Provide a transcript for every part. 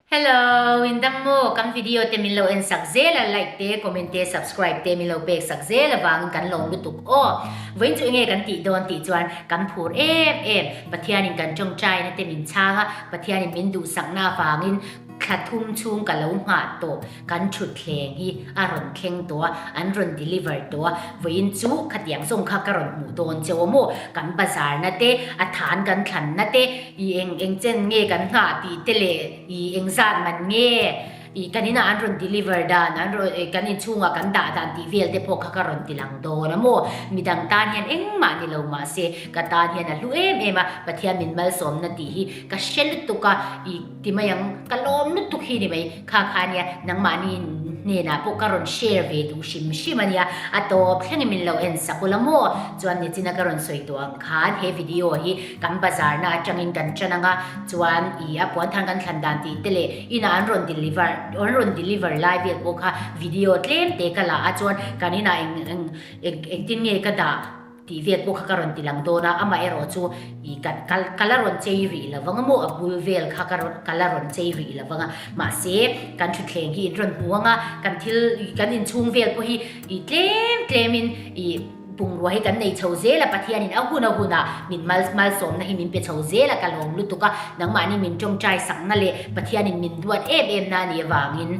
Hello! In dang maw? Kan video te min lo en sak zel a, like te, comment te, subscribe te min lo pek sak zel avangin kan lawm lutuk aw. Vawiin chu enge kan tih dawn tih chuan kan phur em em. Pathianin kan tawngtai nate min chhang a, Pathianin min duhsakna avangin thla thum chhung ka lo nghah tawh. Kan thutthleng hi a rawn thleng tawh a, an rawn deliver tawh a, vawiin chu khatiang zawng kha ka rawn hmuh dawn che awm aw, kan bazarna te, a than kan thlanna te, ih eng engchen nge kan nghah tih te leh ih eng zat man nge ih kan inah an rawn deliver dan, an rawn kan inchhungah kan dah dan tih vel te pawh kha ka rawn tilang dawn a maw. Midang tan hian engmah ni lo mahse ka tan hian a hlu em em a, Pathian min malsawmna tih hi ka hre lutuk a, ih. Ti mai ang, ka lawm lutuk hi ni mai, kha kha nia, nangmahni hnenah pawh ka rawn share ve duh hrim hrim a nia, a tawp thleng in min lo en sak ula maw? Chuan nichin a ka rawn sawi tawh ang khan he video hi kan bazarna atangin kan tan anga chuan ih a puanthan kan thlan dan tih te leh inah an rawn deliver an rawn deliver lai vel pawh kha video tlem te ka la a chuan kan inah eng eng engtin nge ka dah Tih vel pawh kha ka rawn ti lang dawn a, amaherawh chu ih ka ka ka la rawn chei rih lo vang a maw, a bul vel kha ka rawn ka la rawn chei rih lo vang a, mahse kan thutthleng hi in rawn hmu ang a, kan thil ih kan inchhung vel pawh hi ih tlem tlemin ih bungrua hi kan nei chho zel a, Pathianin a hun a hun a min mal malsawmna hi min pe chho zel a ka lawm lutuk a, nangmahni min tawngtai sakna leh Pathianin min duat em em na nih avangin,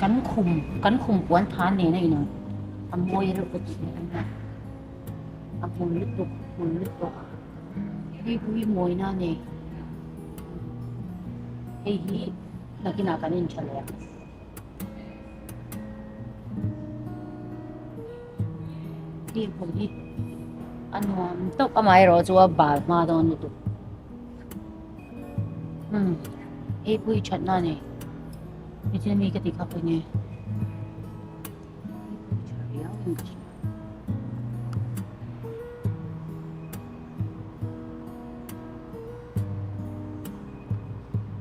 Kan khum, kan khum puan tha nena in ang a mawi reuh ka tih mai ania. A hmul lutuk, hmul lutuk. Hei chu hi mawina a ni. Hei hi nakinah kan intha leh a. Hi hmu hi. A nuam tawk amah erawh chu a bal hma dawn a ni tawh. Hmm. Hei pui thatna a ni. Mithiami ka ti khawp enge.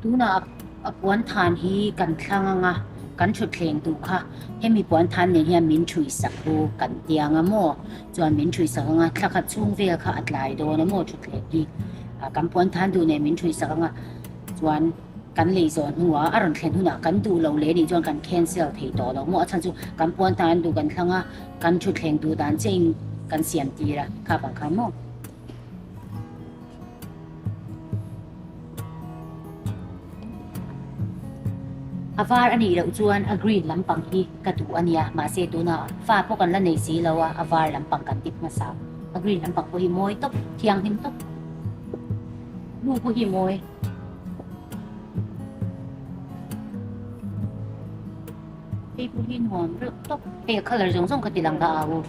Tuna a puan than hi kan thlang anga kan thutthleng duh kha hemi puan than nen hian min thuihsak bu kan ti anga maw chuan min thuihsak anga thla khat chhung vel kha a tlai dawn a maw thutthleng hi kan puan than duh nen min thuihsak anga chuan Kan lei zawh hnuah a rawn thlen hunah kan duh lo leh nih chuan kan cancel thei tawh lo maw? A chhan chu kan puan atangin duh kan thlang a, kan thutthleng duh dan chiahin kan siam tir a, kha pangkhar maw? A var a nih loh chuan a green lampang hi ka duh a nia, mahse tuna far pawh kan la nei si lo a, a var lampang kan tip hmasa. A green lampang pawh hi mawi tawp, thianghlim tawp. Blue pawh hi mawi. Hei pawh hi nuam reuh tawk. Hei a colour zawng zawng ka tih lang ta a u.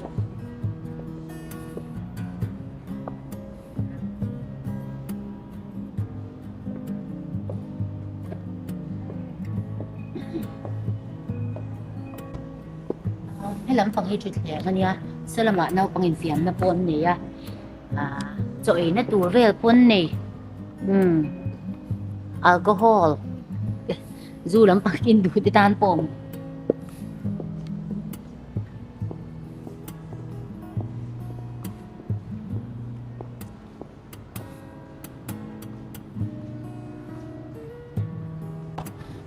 Hei lam fang hi ṭhut hle ania, salamah naupang infiamna pawh an nei a. Chaweina tur vel pawn nei alcohol zu lam pang in duh te tan pawh awm.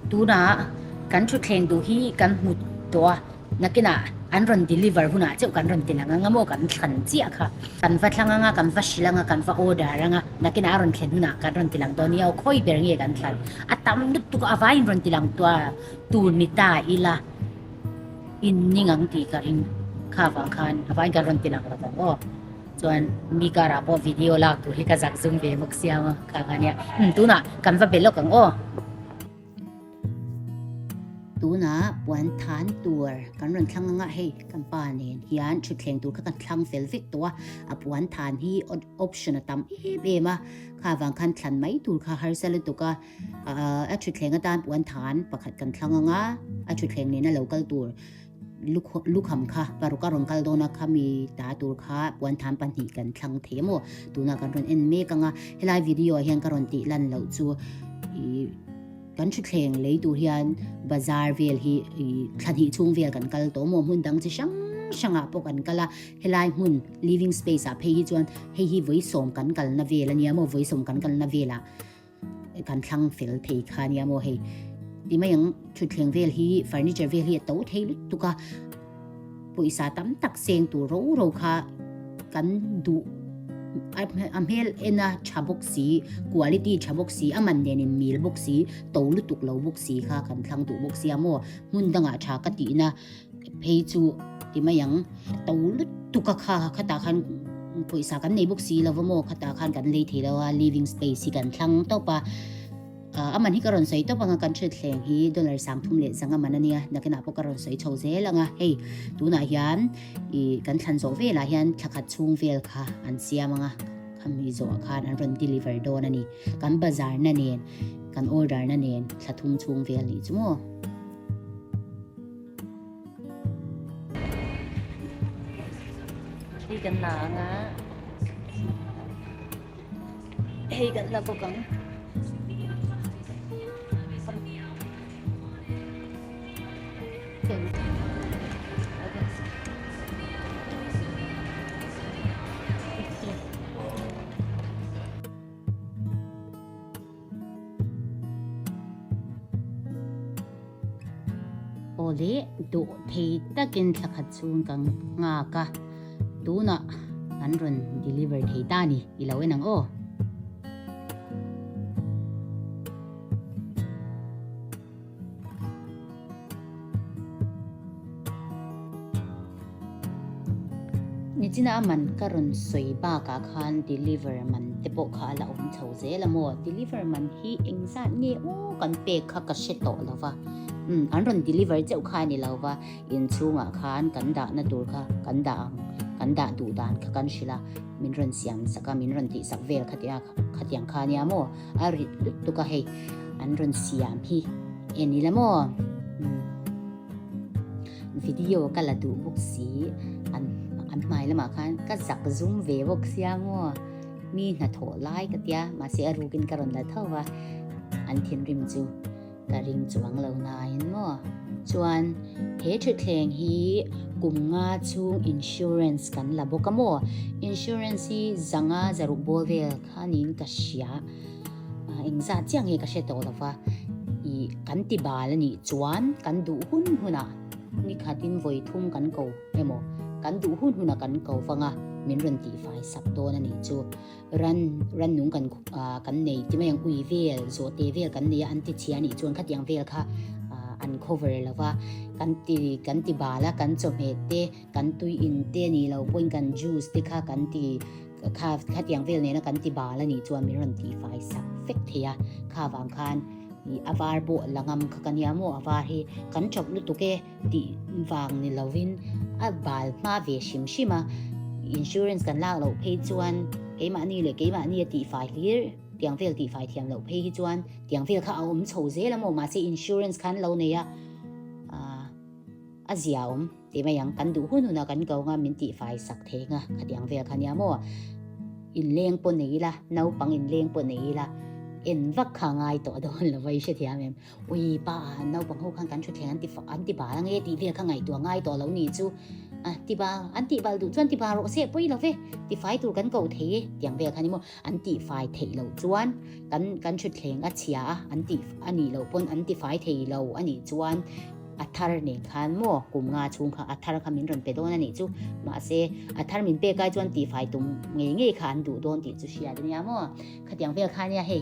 tunah kan thutthleng duh hi kan hmu tawh a nakinah an rawn deliver hunah chauh kan rawn ti lang anga maw kan thlan chiah kha kan va thlang anga kan va hrilh anga kan va order anga nakinah a rawn thlen hunah kan rawn ti lang tawh a ni au khawi ber nge kan thlan a tam lutuk tak a vaiin rawn ti lang tawh a tur ni ta ila inning ang tih ka ring kha vang khan a vaiin kan rawn ti lang lo bawk aw. chuan mi car ah pawh video lak tur hi ka zak zum ve bawk sia maw kha kha nia umm tunah kan va be lawk ang aw tunah puan than tur kan rawn thlang anga hei kan pa nen hian thutthleng tur kha kan thlang fel vek tawh a a puan than hi option a tam em em a kha vang khan thlan mai tur kha harsa lutuk a a thutthleng atan puan than pakhat kan thlang anga a thutthleng nena lo kal tur Lukham kha paruk a rawn kal dawn a, khami ta tur kha puan tham pahnih kan thlang thei emaw tunah kan rawn en mek ang a, helai video ah hian ka rawn tih lan loh chu ih kan thutthleng lei tur hian bazar vel hi thla hnih chhung vel kan kal tawh maw hmun dang chi hrang hrang ah pawh kan kal a helai hmun living space ah phei hi chuan hei hi vawisawm kan kalna vel ania maw vawisawm kan kalna vel ah Kan thlang fel thei kha nia maw hei. Ti mai ang, thutthleng vel hi, furniture vel hi a to thei lutuk a. Pawisa tam tak seng tur ro ro kha kan duh a hmel en a tha bawk si, quality tha bawk si, a man nen in mil bawk si, to lutuk lo bawk si kha kan thlang duh bawk sia maw, hmun dangah tha ka tihna. Phei chu ti mai ang. To lutuk a kha khatah khan pawisa kan nei bawk si lo va maw khatah khan kan lei thei lo a living space hi kan thlang tawp a. A man hi ka rawn sawi tawp ang a kan hriat thleng hi dollar sang thum leh zanga man a nia nakinah pawh ka rawn sawi chho zel ang a hei tunah hian i kan thlan zawh velah hian thla khat chhung vel kha an siam ang a khami zawhah khan an rawn deliver dawn a ni kan bazar na nen kan order na nen thla thum chhung vel ni chu maw Hei kan hna ang a. Hei kan hna bawk ang. Aw le, duh thei takin thla khat chhung kan nghak a, tunah kan rawn deliver thei ta a ni, i lo en ang aw. Nichina a man ka rawn sawi bakah khan deliver man te pawh kha a la awm chho zel a maw? Deliver man hi eng zat nge aw kan pek kha ka hre tawh lo va. Um, an rawn deliver chauh kha a ni lo va, inchhungah khan kan dahna tur kha kan dah ang, kan dah duh dan kha kan hrilh a, min rawn siam sak a, min rawn tihsak vel kha tia, khatiang kha nia maw? a rilh lutuk a hei an rawn siam hi e ni la maw video ka la duh bawk si an an hmai lamah khan ka zak zum ve bawk sia maw mi hnathawh lai ka tia mahse a rukin ka rawn la tho a an thinrim chu Ka ring chuang lo nain maw chuan he thutthleng hi kum nga chhung insurance kan la bawk a maw? Insurance hi zanga zaruh bawl vel kha niin ka hria. Engzat chiah nge ka hre tawh lo va. I kan ti bal a nih chuan kan duh hun huna nikhatin vawi thum kan ko emaw kan duh hun huna kan ko vanga min rawn tihfai sak dawn a nih chu. Ran, rannung kan kan nei timai ang ui vel, zawhte vel kan nei a an ti chhia nih chuan khatiang vel kha an cover lo va, kan ti kan ti bal a kan chawhmeh te, kan tui in te nih lo pawhin kan juice te kha kan ti kha khatiang vel nena kan ti bal a nih chuan min rawn ti fai sak fek thei a, kha vang khan i a var pawh la ngam kha ka nia maw a var hi kan chawp lutuk e. tih vang ni lovin a bal hma ve hrim hrim a, insurance kan lak loh phei chuan keimahni leh keimahni a tihfai hlir tiang vel tihfai thiam loh phei hi chuan tiang vel kha a awm chho zel a maw mahse insurance kha an lo nei a ah a zia awm tih mai ang kan duh hun hun a kan kawng a min tihfai sak thei anga khatiang vel kha nia maw inleng pawh nei ila naupang inleng pawh nei ila en vak kha a ngai tawh dawn lo a i hrethiam em. Ui pa a, naupang ho khan kan thutthleng an ti an ti bal ange tih vel kha ngaihtuah ngai tawh lo ni chu a ti ba an ti bal duh chuan ti ba rawh se pawi love tifai tur kan ko thei e tiang vel khan i maw an tifai theih lo chuan kan kan thutthleng a chhia a an ti a nih loh pawn an tifai thei lo a nih chuan a thar nen khan maw kum nga chhung kha a thar kha min rawn pe dawn a nih chu mahse a thar min pek ai chuan tifai tum ngei ngei kha an duh dawn tih chu hriat ania maw khatiang vel khan nia hei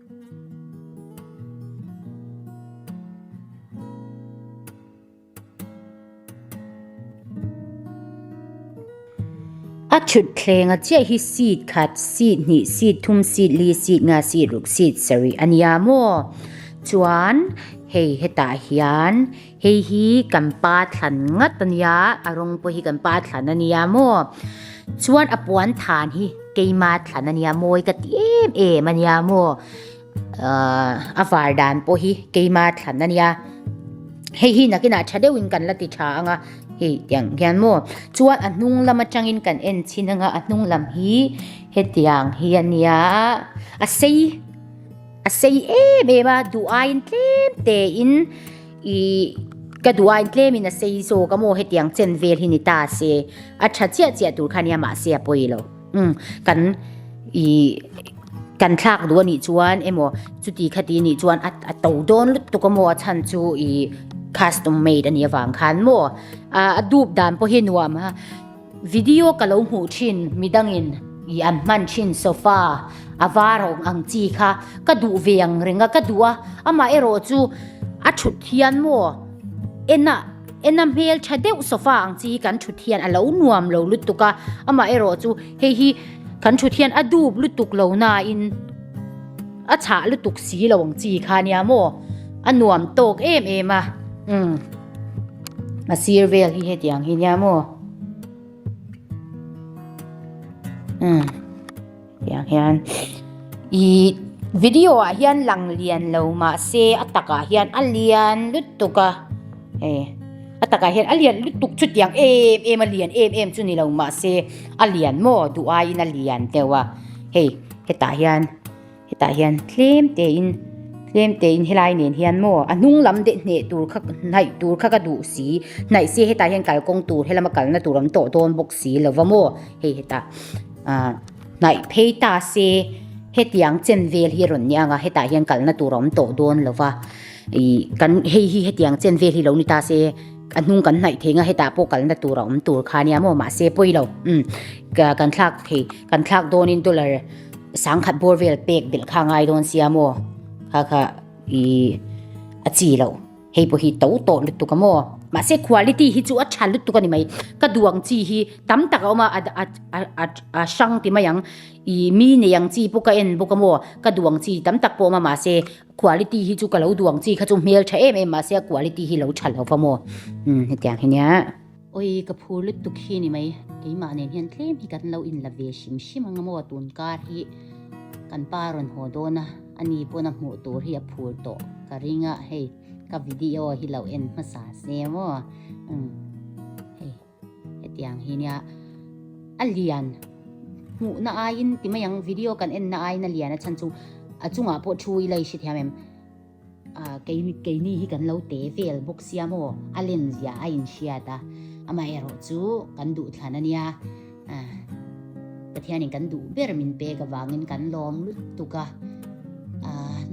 A thutthleng a chiah hi seat khat, seat hnih, seat thum, seat li, seat nga, seat ruk, seat sarih a nia maw? Chuan hei hetah hian-- Hei hi kan pa thlan ngat a nia, a rawng pawh hi kan pa thlan a nia maw. Chuan a puan than hi keima thlan a nia, mawi ka ti em em a nia maw. Uh, a var dan pawh hi keima thlan a nia. Hei hi nakinah tha deuhin kan la ti tha anga hei tiang hian maw. Chuan a hnung lam atangin kan en chin anga a hnung lam hi hetiang hi a nia, a sei. A sei em em a, duhaiin tlem tein ih ka duhaiin tlemin a sei zawk a maw hetiang chen vel hi ni ta se. A tha chiah chiah tur kha nia mahse a pawi lo. Um, kan ih kan thlak duh a nih chuan emaw chuti khati nih chuan a a to dawn lut tuk a maw a chhan chu ih custom made a nih avang khan maw a a dup dan pawh hi nuam a. Video ka lo hmuh thin midang in i an hman thin sofa a var awng ang chi kha ka duh ve ang reng a ka duh a amah erawh chu a thut hian maw ena ena hmel tha deuh sofa ang chi hi kan thut hian a lo nuam lo lutuk a amah erawh chu hei hi kan thut hian a dup lutuk lo na in a chhah lutuk si lo ang chi kha nia maw a nuam tawk em em a um a sir vel hi hetiang hi nia maw umm tiang hian i video ah hian lang lian lo ma se a taka hian a lian lut tuka e a taka hian a lian lut tuk chu tiang em em a lian em em chu ni lo ma se a lian maw duh aiin a lian deuh a hei hetah hian Hetah hian tlem tein, tlem tein helai nen hian maw a hnung lam deh hneh tur kha hnaih tur kha ka duh si, hnaih se hetah hian kalkawng tur he lama kalna tur an tawh dawn bawk si lo va maw, hei heta ah hnaih phei ta se hetiang chen vel hi a rawn ni ang a, hetah hian kalna tur a awm tawh dawn lo va, ih kan hei hi hetiang chen vel hi lo ni ta se a hnung kan hnaih theng a hetah pawh kalna tur a awm tur kha nia maw, mahse pawi lo umm ka kan thlak thei. Kan thlak dawnin dollar sangkhat bawr vel pek belh kha a ngai dawn sia maw? Kha kha i a chi lo. Hei pawh hi to tawh lutuk a maw? Mahse quality hi chu a tha lutuk a ni mai. Ka duang chi hi tam tak a awm a, a hrang ti mai ang. I mi nei ang chi pawh ka en bawk a maw? Ka duang chi tam tak pawh a awm a mahse quality hi chu ka lo duang chi kha chu hmel tha em em mahse a quality hi lo tha lo va maw? Hetiang hi nia. Awi ka phur lutuk hi ni mai, keimah nen hian tlem hi kan lo inla ve hrim hrim ang a maw a tun kar hi kan pa rawn haw dawn a, ani pawn a hmuh tur hi a phur tawh ka ring a hei ka video hi lo en hmasa se maw umm hei hetiang hi nia a lian hmuhna aiin ti mai ang video kan enna aiin a lian a chhan chu a chungah pawh thu i la i hre thiam em. Kei keini hi kan lo te vel bawk sia maw? Alenzia a inhriat a. Amaherawh chu kan duhthlan a nia. Pathianin kan duh ber min pek avangin kan lawm lutuk a.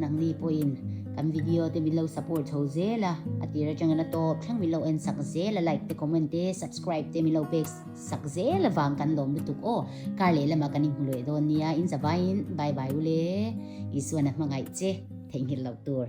Nangni pawhin kan video te min lo support chho zel a, a tir atangin a tawp thleng min lo en sak zel a, like te comment te subscribe te min lo pek-- sak zel avang kan lawm lutuk aw, car leh lamah kan inhmu leh dawn nia, in zavaiin bye bye ule, Isuan a hmangaih che, theihnghilh loh tur.